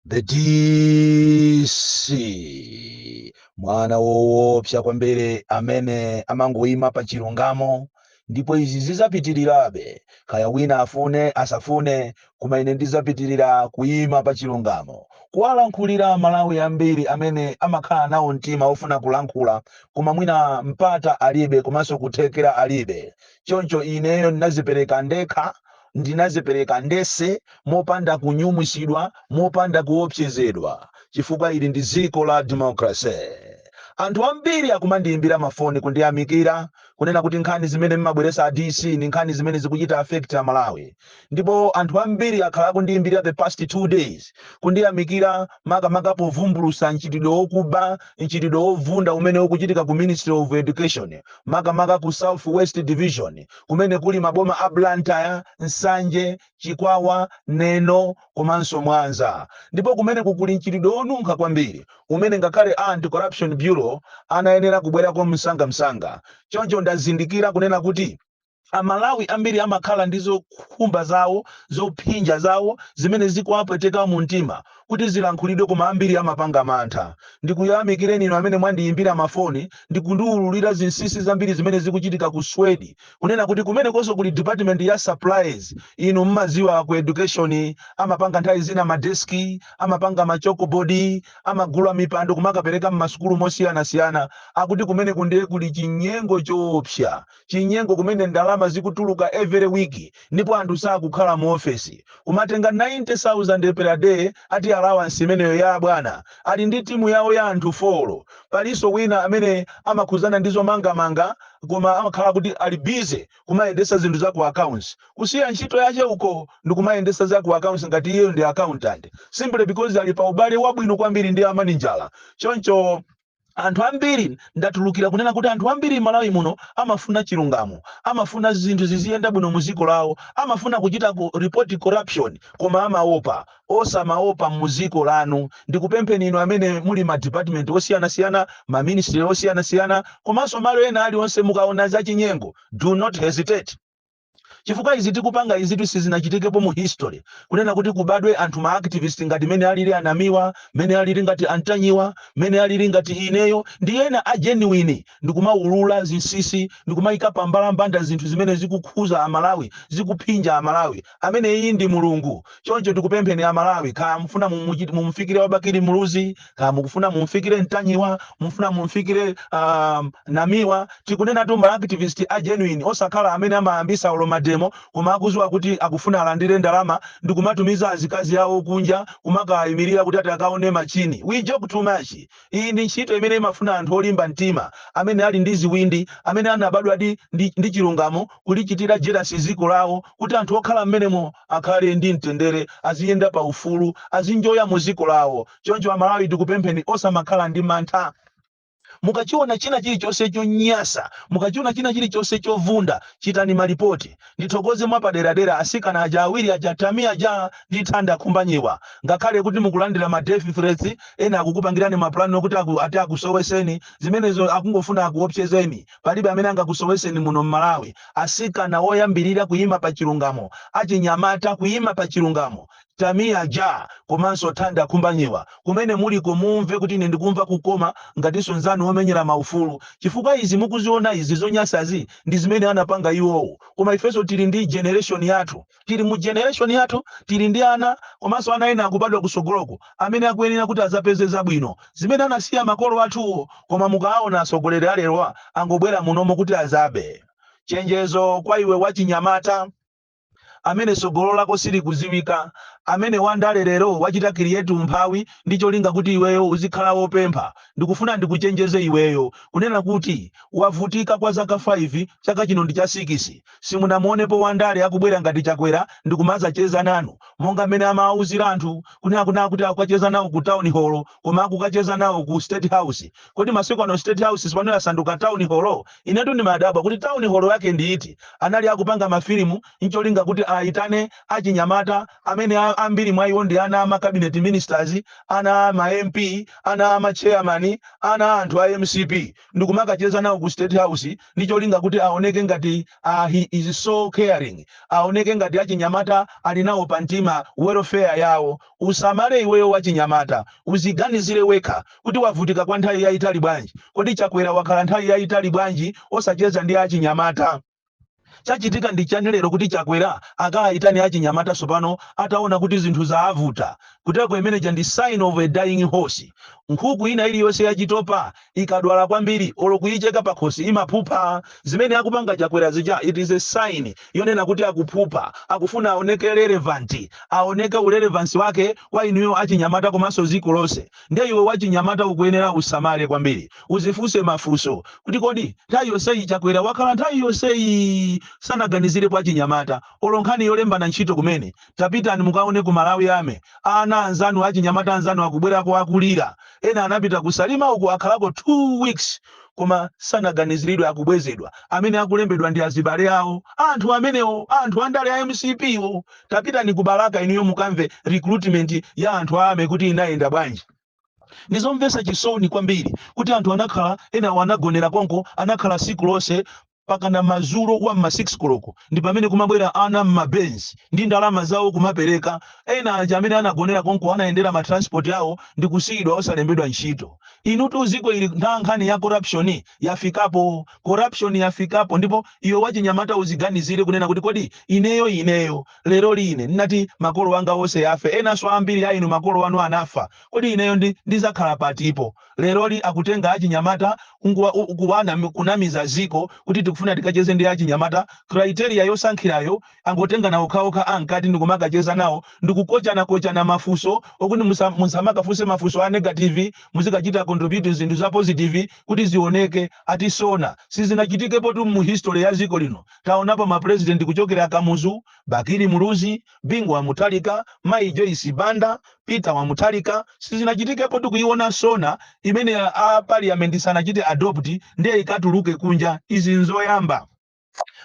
the dc mwana woopsa kwambiri amene amangoima pa chilungamo ndipo izi zizapitirirabe kaya wina afune asafune koma ine ndizapitirira kuima pa chilungamo kuwalankhulira amalawi ambiri amene amakhala nawo mtima ofuna kulankhula koma mwina mpata alibe komanso kuthekera alibe choncho ineyo ndinadzipereka ndekha Ndinadzipereka ndense, mopanda kunyumwitsidwa, mopanda kuopsezedwa, chifukwa ili ndi dziko la democracy. Anthu ambiri akumandiimbira mafoni kundiyamikira, kunena kuti nkhani zimene mmabweretsa a DC ndi nkhani zimene zikuchita affect a Malawi. Ndipo anthu ambiri akhala akundiimbira the past two days kundiyamikira makamaka povumbulutsa mchitidwe wokuba, mchitidwe wovunda umene ukuchitika ku Ministry of Education, makamaka ku South West Division. kumene kuli maboma a Blantyre, Nsanje, Chikwawa, Neno komanso Mwanza ndipo kumeneku kuli mchitidwe wonunkha kwambiri umene ngakhale a Anti-Corruption Bureau anayenera kubwerako msangamsanga. Choncho ndazindikira kunena kuti Amalawi ambiri amakhala ndi zokhumba zawo, zophinja zawo zimene zikuwapweteka mumtima. kuti zilankhulidwe koma ambiri amapanga mantha. Ndikuyamikireni inu amene mwandiyimbira mafoni ndi kundiwululira zinsinsi zambiri zimene zikuchitika ku SWED. Kunena kuti kumenekonso kuli department ya supplies, inu mmadziwa aku education amapanga nthawi zina ma desk, amapanga ma chalkboard, amagula mipando kumakapereka mmasukulu mosiyanasiyana. Akuti kumeneku ndiye kuli chinyengo choopsa. chinyengo kumene ndalama zikutuluka every week ndipo anthu sakukhala mu office kumatenga 90000 per day ati allowance imeneyo ya abwana ali ndi timu yawo ya anthu 4 palinso wina amene amakhudzana ndi zomangamanga koma amakhala kuti ali busy kumayendetsa zinthu za ku accounts kusiya ntchito yache uko ndikumayendetsa za ku accounts ngati iyeyo ndi accountant simply because ali pa ubale wabwino kwambiri ndi a manijala choncho anthu ambiri ndatulukira kunena kuti anthu ambiri Malawi muno amafuna chilungamo amafuna zinthu ziziyenda bwino mu ziko lawo amafuna kuchita ku report corruption koma amaopa osamaopa mu ziko lanu ndikupempheni inu amene muli mma department osiyana siyana ma ministry osiyana siyana komanso malo ena alionse mukaona za chinyengo do not hesitate Chifukwa izi tikupanga izitu sizinachitikepo mu history, kunena kuti kubadwe anthu ma activist ngati mene alili a Namiwa, mene alili ngati a Ntanyiwa, mene alili ngati ineyo ndi ena a genuine ndikumaulula zinsisi ndikumaika pa mbalambanda zinthu zimene zikukhuza a Malawi, zikuphinja a Malawi. Ameneyi ndi Mulungu. Choncho tikupempheni a Malawi kaya mufuna mumufikire wa Bakili Muluzi, kaya mukufuna mumfikire mtanyiwa mufuna mumfikire uh, namiwa tikunenatu ma activist a genuine osakhala amene amayambisa olo ma demo koma akuziwa kuti akufuna alandire ndalama ndi kumatumiza azikazi awo kunja kumakayimirira kuti ati akaone machini we joke too much iyi ndi ntchito imene imafuna anthu olimba mtima amene ali ndi ziwindi amene anabadwa di, ndi, ndi chilungamo kulichitira jerasi dziko lawo kuti anthu okhala mmenemo akhale ndi mtendere aziyenda paufulu azinjoya mu dziko lawo Choncho amalawi tikupempheni osamakhala ndi mantha. Mukachiona china chilichonse chonyasa, mukachiona china chilichonse chovunda, chitani malipoti. Ndithokoze mwapaderadera asikana aja awiri aja Tamia Ja ndi Thanda Khumbanyiwa. Ngakhale kuti mukulandira ma death threats, ena akukupangirani ma plan okuti ati akusoweseni, zimenezo akungofuna akuopsezeni. Palibe amene angakusoweseni muno Malawi. Asikana oyambirira kuyima pachilungamo, achinyamata kuyima pachilungamo. Tamia Ja komanso Thanda Khumbanyiwa. Kumene muliko mumve kuti ine ndikumva kukoma ngatinso nzanu omenyera maufulu. Chifukwa izi mukuziona izi zonyasazi ndi zimene anapanga iwowo. Koma ifenso tili ndi generation yathu. Tili mu generation yathu tili ndi ana komanso ana ena akubadwa kusogoloku amene akuyenera kuti azapeze zabwino zimene anasiya makolo athuwo koma mukaawona atsogoleri alerowa angobwera munomo kuti azabe. Chenjezo kwa iwe wachinyamata. amene sogolo lako silikuziwika, amene wandale lero wachita create umphawi ndi cholinga kuti iweyo uzikhala wopempha, ndikufuna ndikuchenjeze iweyo kunena kuti wavutika kwa zaka 5 chaka chino ndi cha 6 simunamuonepo wandale akubwera ngati Chakwera ndikumazacheza nanu monga mmene amawauzira anthu kunena kunena kuti akukacheza nawo ku town hall koma akukacheza nawo ku state house kodi masiku ano state house sipano yasanduka town hall? Inetu ndimadabwa kuti town hall yake ndi iti? Anali akupanga mafilimu ncholinga kuti aitane achinyamata amene ambiri mwa iwo ndi ana a ma cabinet ministers, ana a ma MP, ana a ma chairman, ana a anthu a mcp ndikumakacheza nawo ku state house ndi cholinga kuti aoneke ngati a he is so caring, aoneke ngati achinyamata ali nawo pa mtima welfare yawo. Usamale iweyo wachinyamata, uziganizire wekha kuti wavutika kwa nthawi yayitali bwanji? Kodi Chakwera wakhala nthawi yayitali bwanji osacheza ndi achinyamata? Chachitika ndi chani lero kuti Chakwera akaitane achinyamata tsopano ataona kuti zinthu zaavuta? Kuteko imeneja ndi sign of a dying horse. Nkhuku ina iliyonse yachitopa ikadwala kwambiri olo kuicheka pakhosi imaphupha. Zimene akupanga Chakwera zija it is a sign yonena kuti akuphupha, akufuna aoneke relevant, aoneke urelevance wake kwa inuyo achinyamata komanso ziko lonse. Nde iwe wachinyamata ukuyenera usamale kwambiri, uzifunse mafunso kuti kodi nthawi yonseyi Chakwera wakhala nthawi yonseyi sanaganizirepo achinyamata olo nkhani yolembana ntchito kumene Tapitani mukaone ku Malawi Army, ana anzanu achinyamata anzanu akubwerako akulira, ena anapita ku Salima uku akhalako 2 weeks koma sanaganiziridwe akubwezedwa, amene akulembedwa ndi azibale awo a anthu amenewo, a anthu andale a mcp wo. Tapitani ku Balaka inuyo mukamve recruitment ya anthu a army kuti inayenda bwanji. Ndi zomvetsa chisoni kwambiri kuti anthu anakhala, enawo anagonera konko, anakhala tsiku lonse pakana mazulo wa mma 6 koloko ndipamene kumabwera ana mma benz ndi ndalama zawo kumapereka, ena aja amene anagonera konko anayendera ma transport awo ndikusiyidwa osalembedwa ntchito. Inutu ziko ili ntha nkhani ya corruption yafikapo, corruption yafikapo ndipo iwe wachinyamata uziganizire kunena kuti kodi ineyo ineyo leroli ine ndinati makolo anga onse anafa enanso ambiri a inu makolo anu anafa kodi ineyo ndi ndizakhala patipo Leroli akutenga achinyamata nkuwa kunamiza ziko kuti tikufuna tikacheze ndi achinyamata criteria yosankhirayo angotengana okhaokha amkati ndikumakacheza nawo ndikukochana kochana mafuso okuti musa musamakafunse mafuso a negative muzikachita contribute zinthu za positive kuti zioneke ati sona sizinachitikepotu mu history ya ziko lino taonapo ma president kuchokera kamuzu, bakili muluzi, Bingu wa Mutharika, Mayi Joyce Banda, Peter wa Mutharika, sizinachitikepo tu kuiona SONA imene a parliament sanachite adopt ndiye ikatuluke kunja, izi nzoyamba.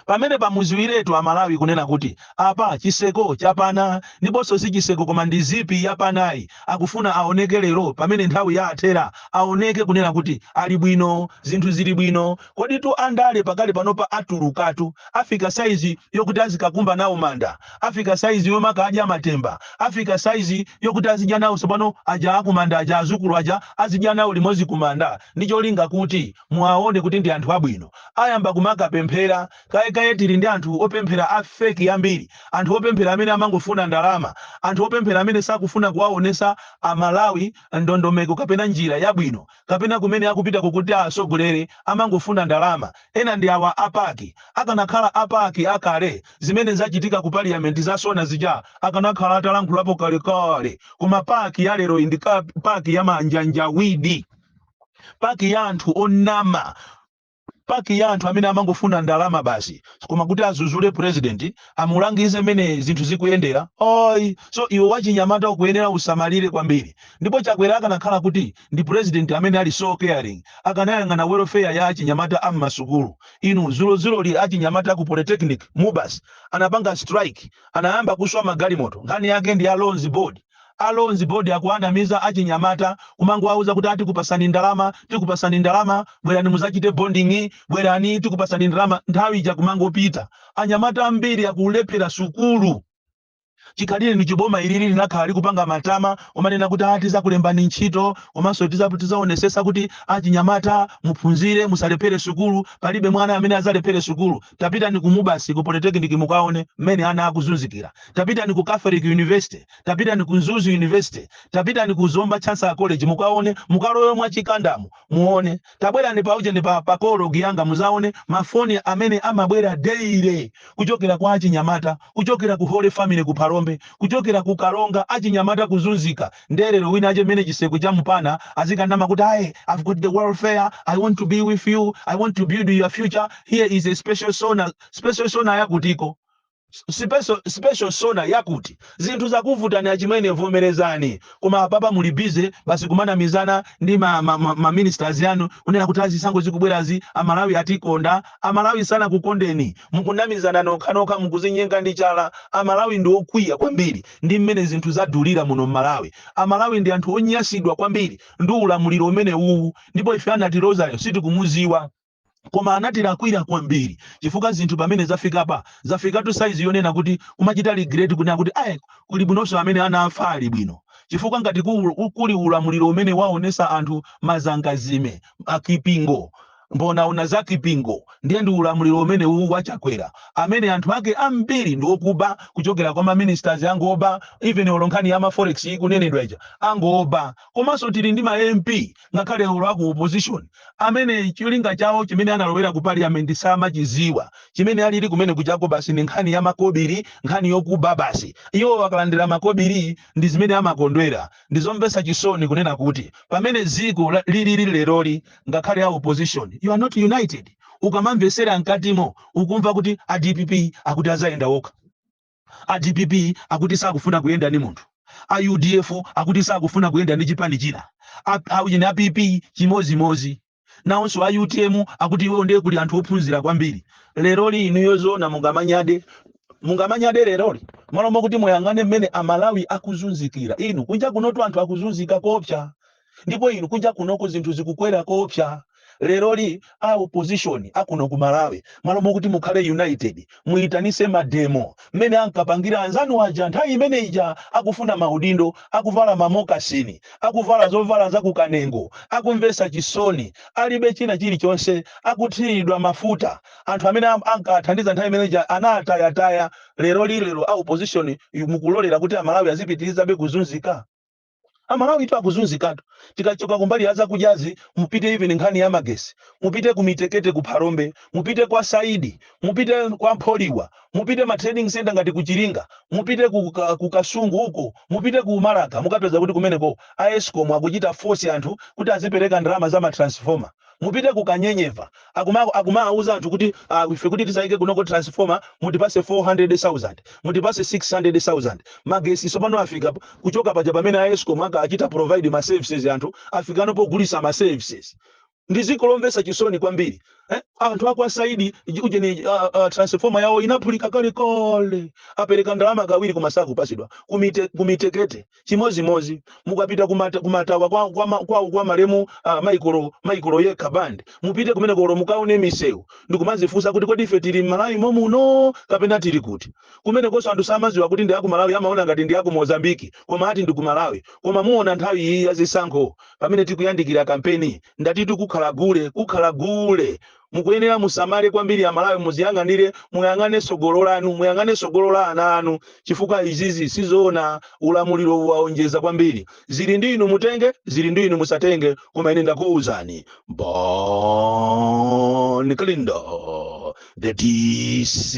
Pamenepa mudziwiretu Amalawi kunena kuti apa chiseko chapana, ndiponso si chiseko koma ndi zipi yapanayi, akufuna aoneke lero pamene nthawi yaathera, aoneke kunena kuti ali bwino, zinthu zili bwino, Koditu andale pakali panopa atulukatu, afika saizi yokuti azikakumba nawo manda, afika saizi yomakadya matemba, afika saizi yokuti azidya nawo tsopano aja akumanda aja, azukulu aja azidya nawo limodzi kumanda ndi cholinga kuti muwaone kuti ndi anthu abwino. Ayamba kumakapemphera kaye kaye, tili ndi anthu opemphera a fake ambiri, anthu opemphera amene amangofuna ndalama, anthu opemphera amene sakufuna kuwaonetsa a Malawi ndondomeko kapena njira yabwino. kapena kumene akupita ku kuti atsogolere amangofuna ndalama. Ena ndi awa a pac. Akanakhala a pac a kale zimene zachitika ku parliament za Sona zija akanakhala atalankhulapo kalekale. Koma pac ya leroyi ndi ka pac ya manjanjawidi. Pac ya anthu onama. Pac ya anthu amene amangofuna ndalama basi koma kuti azuzule president amulangize mmene zinthu zikuyendera ayi so iwe wachinyamata ukuyenera usamalire kwambiri ndipo Chakwera akanakhala kuti ndi president amene ali so caring akanayang'ana welfare ya achinyamata am'masukulu inu zulozuloli achinyamata ku polytechnic, Mubas anapanga strike anayamba kuswa magalimoto nkhani yake ndi ya loans board. A Loans Board akuwanamiza achinyamata kumangowauza kuti a tikupasani ndalama, tikupasani ndalama, bwerani muzachite bonding, bwerani tikupasani ndalama, nthawi ija kumangopita. Anyamata ambiri akulephera sukulu. Chikhalirenicho boma ilili linakhala likupanga matama omanena kuti a tizakulembani ntchito komanso tizaonesesa kuti achinyamata muphunzire musalephere sukulu. Palibe mwana amene azalephere sukulu. Tapitani ku Mubasi ku Polytechnic mukaone mmene ana akuzunzikira. Tapitani ku Catholic University. Tapitani ku Mzuzu University. Tapitani ku Zomba Chancellor College mukaone, mukalowe mwa chikandamu muone. Tabwerani pa ujeni pa pa koloji yanga muzaone mafoni amene amabwera daily kuchokera kwa achinyamata, kuchokera ku Holy Family ku Phalombe, kuchokera ku Karonga achinyamata kuzunzika. Nde lero wina ache mmene chiseko cha mupana azikanama kuti aye i've got the welfare i want to be with you i want to build your future here is a special SONA special SONA yakutiko sipeso special SONA yakuti zinthu zakuvutani achimwene vomerezani koma apapa muli busy basi kumanamizana ndi ma, ma, ma, ma ministers yanu kunena kuti a zisankho zikubwerazi amalawi atikonda amalawi sanakukondeni mukunamizana nokhanokha mukuzinyenga ndi chala amalawi ndi okwiya kwambiri ndi mmene zinthu zadulira muno mmalawi amalawi ndi anthu onyasidwa kwambiri ndi ulamuliro umenewuwu ndipo ife anatilozayo sitikumuziwa koma anatilakwira kwambiri chifukwa zinthu pamene zafikapa zafikatu saizi yonena kuti kumachita regret kunena kuti ayi kulibwinonso amene anafa ali bwino chifukwa ngati ku- kuli ulamuliro umene waonesa anthu mazangazime akipingo Mbonaona za kipingo ndiye ndi ulamuliro umenewu wa Chakwera amene anthu ake ambiri ndi okuba kuchokera kwa ma ministers ngokuba even olo nkhani ya ma forex ikunenedwa ija ngokuba komanso tili ndi ma MP ngakhale olo aku opposition amene cholinga chawo chimene analowera ku parliament samachiziwa chimene alili kumeneku chako basi ndi nkhani ya makobiri nkhani yokuba basi iwo akalandira makobiri ndi zimene amakondwera Ndi zomvetsa chisoni kunena kuti pamene dziko la, lilili leroli ngakhale a opposition you are not united. Ukamamvetsera mkatimo ukumva kuti a dpp akuti adzayenda okha. A dpp akuti sakufuna kuyenda ndi munthu. A udf akuti sakufuna kuyenda ndi chipani china. A, a, a PP chimodzimodzi. Naonso a utm akuti iwo ndiye kuli anthu ophunzira kwambiri. Leroli inuyo zoona mungamanyade? Mungamanyade leroli? M'malo mokuti muyang'ane mmene a Malawi akuzunzikira. Inu, kunja kunotu anthu akuzunzika koopsa. Ndipo inu kunja kunoko zinthu zikukwera koopsa. Leroli a opposition akuno ku Malawi m'malo mokuti mukhale united muitanise mademo mmene ankapangira anzanu aja nthawi imene ija akufuna maudindo akuvala ma mokasini akuvala zovala za ku kanengo akumvesa chisoni alibe china chilichonse akuthililidwa mafuta anthu amene am- ankawathandiza nthawi imene ija anawatayataya leroli lero a opposition inu mukulolera kuti amalawi azipitilizabe kuzunzika amalawi tu akuzunzikatu tikachoka kumbali ya zakudyazi mupite even nkhani ya magesi mupite ku mitekete ku phalombe mupite kwa saidi mupite kwa mpholiwa mupite ma trading center ngati ku chiringa mupite ku, ka- ku kasungu uko mupite ku balaka mukapeza kuti kumeneko a escom akuchita force anthu kuti azipereka ndalama za matransformer mupite ku kanyenyeva akuma akumawuza anthu kuti uh, ife kuti tizaike kunoko transformer mutipase 400,000 mutipase 600,000 magesi sopano afika p- kuchoka paja pamene a escom ankachita provide ma services anthu afikano pogulisa ma services ndi dziko lomvesa chisoni kwambiri eh? anthu akwa saidi ujeni uh, uh, transformer yawo inaphulika kale kale apereka ndalama kawiri koma sakupasidwa kumite kumitekete chimozimozi mukapita kumata, kumatawa kwa, kwa, ma- kwa, kwa malemu uh, michael michael yekha band mupite kumeneko olo mukaone misewu ndikumazifunsa kuti kodi ife tili mmalawi momuno kapena tili kuti kumenekonso anthu samaziwa kuti ndi aku malawi amaona ngati ndi aku mozambiki koma ati ndi a ku malawi koma muona nthawi iyi ya zisankho pamene tikuyandikira kampeni ndati tikukhala gule kukhala gule Mukuyenera musamale kwambiri amalawi muziyang'anire muyang'ane sogolo lanu muyang'ane sogolo la ana anu chifukwa izizi sizoona ulamuliro uwu waonjeza kwambiri zili ndi inu mutenge zili ndi inu musatenge koma ine ndakuuzani bon kalindo the dc